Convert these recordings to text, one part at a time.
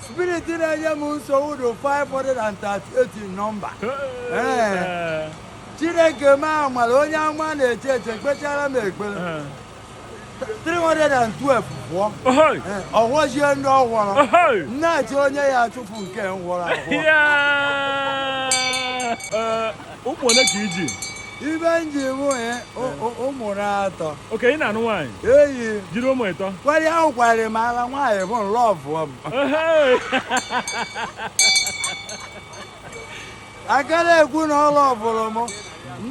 Spirit na-enye m nsogbu dị 538 nọmba Ee. Chineke m amara onye ama na church kpetara m ekpere 312 pụọ Ohoi. Ee, ọ fọzie ndị ọ fọrọ Ohoi. m na-achọ onye ya achụpụ nke fọrọ afọ Yeah. ụmụ ole ka iji ibe m ji mụ ya ụmụ na-atọ okay ị na-anụ nwaanyị eyi jiri ụmụ ịtọ kwari ahụ kwari m ala nwaanyị bụ nlọvụ m aka na-ekwu na ọ lọvụrụ m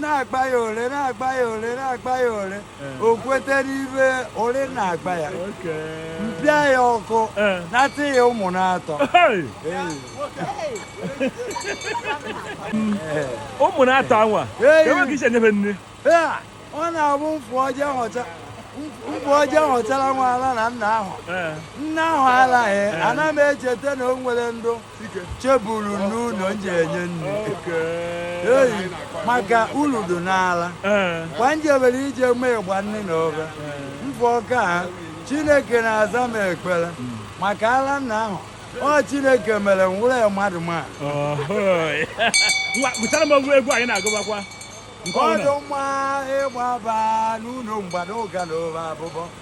na-akpa ya ole na-akpa ya ole na-akpa ya ole o kwetere ibe ole na-agba ya m pịa ya ọkụ nata ya ụmụ na-atọ ụmụ na-atọ anwa enweghị iche nyebe nne ọ na-abụ m fụọ je họchara nwa ala na nna ahụ nna ahụ alaghị ana m echeta na o nwere ndụ cheburu n'ụlọ m ji enye nri eyi maka uru dị n'ala ee kwa m jebere ije mee ịgba nni n'obe m fụọ ka chineke na-aza m ekpere maka ala nna ahụ ọ chineke mere m wụrụ mmadụ ma ọhụị ngwa gụchara m oge egwu anyị na-agụbakwa ọ dụ mma ịgbaba n'ụlọ mgbada ụga na ụba abụbọ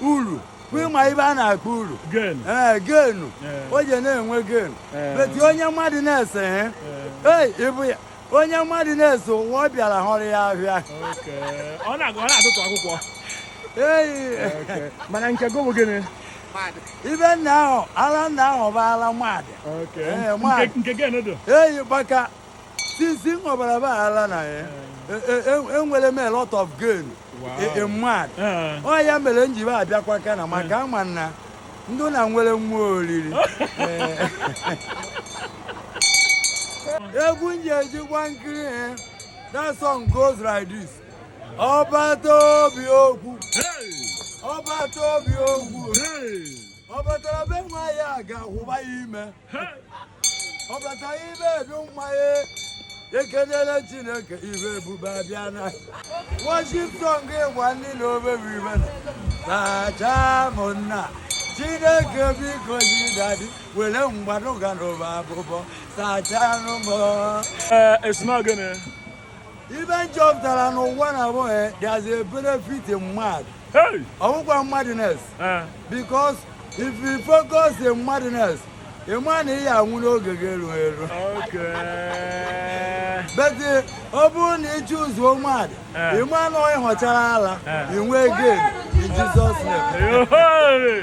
uru ị ma ibe a na-akpọ uru ee gain o ji na-enwe gain but onye madness hey ee ịbụ ya onye madness ụwa ọ bịara hụrụ ya ahịa ee mana nke gị bụ gịnị ibe nna ahụ ala nna ahụ bụ ala mad eyi gbaka since m họbara be ala na ya enwere e, e, e m a lot of gain in mad ọ ya mere m ji be abịakwa ka na maka ama na ndị na nwere nwa oriri egwu m ji ejikwa nkiri eh, that song goes like this ọ bata obi okwu ọ bata obi okwu ọ batara be nwa ya ga-ahụba ya ime ọ bata ibe edu mmanye ekenela chineke ibe ebube abịa na worship song ịgba nni n'obe bụ ibe na sachaa m nna chineke biko daddy were mgbadụga na abụbọ sachanụ m ee esimagene ibe m chọpụtara n'ụwa na bụ there's a benefit in mad ọ wụkwa madness eh. because if you focus in madness ị ma na ị ya anwụ n'oge ga-eru eru but eh, ọ bụrụ na ị choose-ụọ mad eh. ị ma na ị họchara ala ị nwee gain in Jesus name